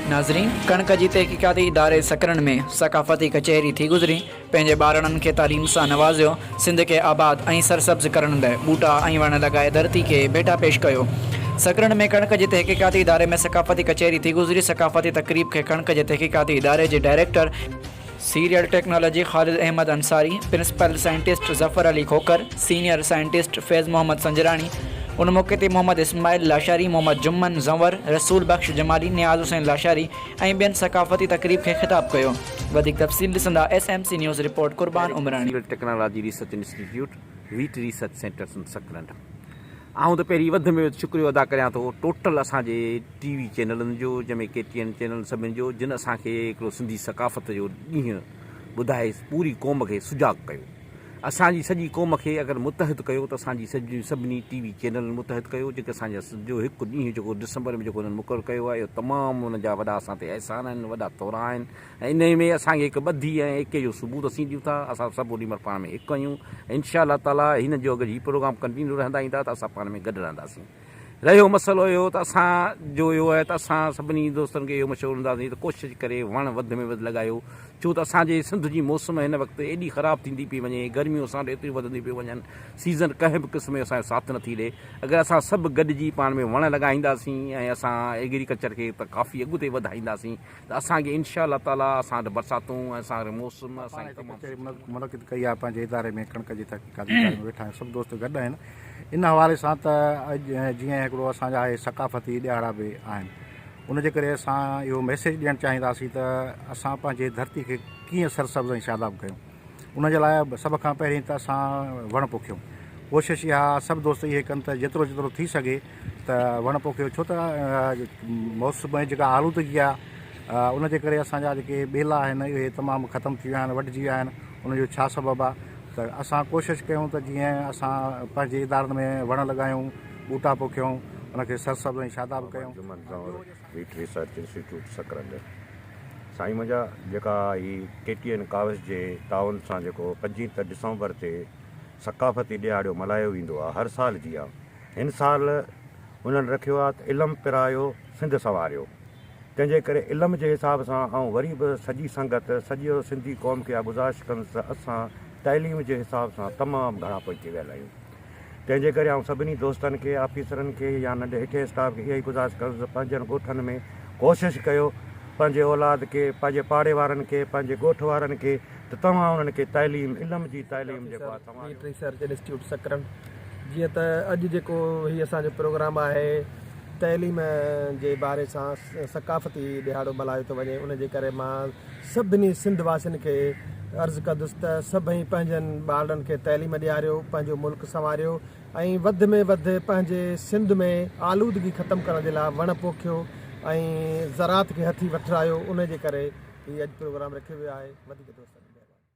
ناظرين! ڪڻڪ جي تحقيقاتي اداري سڪرنڊ ۾ ثقافتي ڪچهري ٿي گذري، پنهنجي ٻارڙن کي تعليم سان نوازيو، سنڌ کي آباد ۽ سرسبز ڪرڻ لئه ٻوٽا ۽ وڻ لڳائي ڌرتي کي ڀيٽا پيش ڪيو. سڪرنڊ ۾ ڪڻڪ جي تحقيقاتي اداري ۾ ثقافتي ڪچهري ٿي گذري، ثقافتي تقريب کي ڪڻڪ جي تحقيقاتي اداري جي director, cereal technology Khalid Ahmed Ansari, principal scientist Zafar Ali Khokhar, senior scientist Faiz Muhammad Sanjrani, ان موقعي تي محمد اسماعيل لاشاري، محمد جمن زنور، رسول بخش جمالي، نياز حسين لاشاري ۽ ٻين ثقافتي تقريب کي خطاب ڪيو. وڌيڪ تفصيل ڏسندا S M C news report Qurban Umrani. Cereal technology research institute, wheat research centre Sindh Sakrand آئون ته پهرين وڌ ۾ وڌ شڪريو ادا ڪريان ٿو ٽوٽل اسان جي ٽي وي چينلن جو جنهن ۾ ڪي ٽي اين چينل سڀني جو جن اسان کي هڪڙو سنڌي ثقافت جو ڏينهن ٻڌائي پوري قوم کي سجاڳ ڪيو اسان جي سڄي قوم کي اگر متحد ڪيو ته اسان جي سڄي سڀني ٽي وي چينلن متحد ڪيو جيڪي اسان جا سنڌ جو هڪ ڏينهن جيڪو ڊسمبر ۾ جيڪو انهن مقرر ڪيو آهي اهو تمام انهن جا وڏا اسان تي احسان آهن وڏا ٿورا آهن ۽ انهي ۾ اسان کي هڪ ٻڌي ۽ ايڪي جو ثبوت اسين ڏيون ٿا اسان سڀ اڏي مهل پاڻ ۾ هڪ آهيون ۽ انشاء الله تعالي هن جو اگر هي پروگرام ڪنٽينيو رهندا ايندا ته اسان پاڻ ۾ گڏ رهنداسين. رهيو مسئلو اهو ته اسان جو اهو آهي ته اسان سڀني دوستن کي اهو مشورو ڏينداسين ته ڪوشش ڪري وڻ وڌ ۾ وڌ لڳايو ڇو ته اسان جي سنڌ جي موسم هن وقت ايڏي خراب ٿيندي پئي وڃي گرميون اسان وٽ ايتريون وڌنديون پيون وڃن سيزن ڪنهن به قسم جو اسان جو ساٿ نٿي ڏئي اگر اسان سڀ گڏجي پاڻ ۾ وڻ لڳائينداسين ۽ اسان ايگريڪلچر کي ته ڪافي اڳتي وڌائينداسين ته اسان کي انشاء الله تعالي اسان وٽ برساتون ۽ اسان وٽ موسم اسان کي تمام سٺو ملندو. ڪچهري منعقد ڪئي آهي پنهنجي اداري ۾ ڪڻڪ جي تحقيقاتي اداري ۾ ويٺا آهيون سڀ دوست گڏ آهن ان حوالي سان ته اڄ جيئن هڪڙو اسان جا اهي ثقافتي ڏهاڙا به آهن ان جي ڪري اسان اهو ميسيج ڏيڻ چاهينداسين ته اسان پنهنجي ڌرتي کي ڪيئن سرسبز ۽ شاداب ڪيون. ان جي لاء سڀ کان پهرين ته اسان وڻ پوکيون. ڪوشش اها سڀ دوست اهي ڪن ته جيترو جيترو ٿي سگهي ته وڻ پوکيو ڇو ته موسم ۾ جيڪا آلودگي آهي ان جي ڪري اسان جا جيڪي ٻيلا آهن اهي تمام ختم ٿي ويا آهن وڍجي ويا آهن ان جو ڇا سبب آهي ته اسان ڪوشش ڪيون ته جيئن اسان پنهنجي ادارن ۾ وڻ لڳايون ٻوٽا پوکيون ان کي سرسبز ۽ شاداب ڪيون. ويٽ ريسرچ انسٽيٽيوٽ سڪرنڊ سائين منهنجا جيڪا هي ڪي ٽي اين ڪاوس جي تعاون سان جيڪو پنجين ته ڊسمبر تي ثقافتي ڏيهاڙو ملهايو ويندو آهي هر سال جيان هن سال انهن رکيو آهي ته علم پرايو سنڌ سنواريو تنهنجي ڪري علم جي حساب سان آئون وري به سڄي سنگت سڄي سنڌي قوم کي اها گذارش ڪندس ته اسان تعليم جي حساب سان تمام گهڻا پوئتي ويل آهيون تنهن جي ڪري آئون سڀني دوستن کي، آفيسرن کي يا ننڍي هيٺئين اسٽاف کي اها ئي گذارش ڪندس ته پنهنجن ڳوٺن ۾ ڪوشش ڪيو پنهنجي اولاد کي، پنهنجي پاڙي وارن کي، پنهنجي ڳوٺ وارن کي ته توهان انهن کي تعليم، علم جي تعليم جيڪو آهي توهان جو. ريسرچ انسٽيٽيوٽ سڪرنڊ جيئن ته اڄ جيڪو هي اسان جو پروگرام آهي تعليم جي باري سان ثقافتي ڏهاڙو ملهايو ٿو وڃي ان جي ڪري مان سڀني سنڌ واسين کي عرض ڪندس ته سڀئي پنهنجن ٻارڙن کي تعليم ڏياريو، پنهنجو ملڪ سنواريو ۽ وڌ ۾ وڌ پنهنجي سنڌ ۾ آلودگي ختم ڪرڻ جي لاء وڻ پوکيو ۽ زراعت کي هٿي وٺرايو انهي جي ڪري هي اڄ پروگرام رکيو ويو آهي. وڌيڪ دوستن کي مهرباني.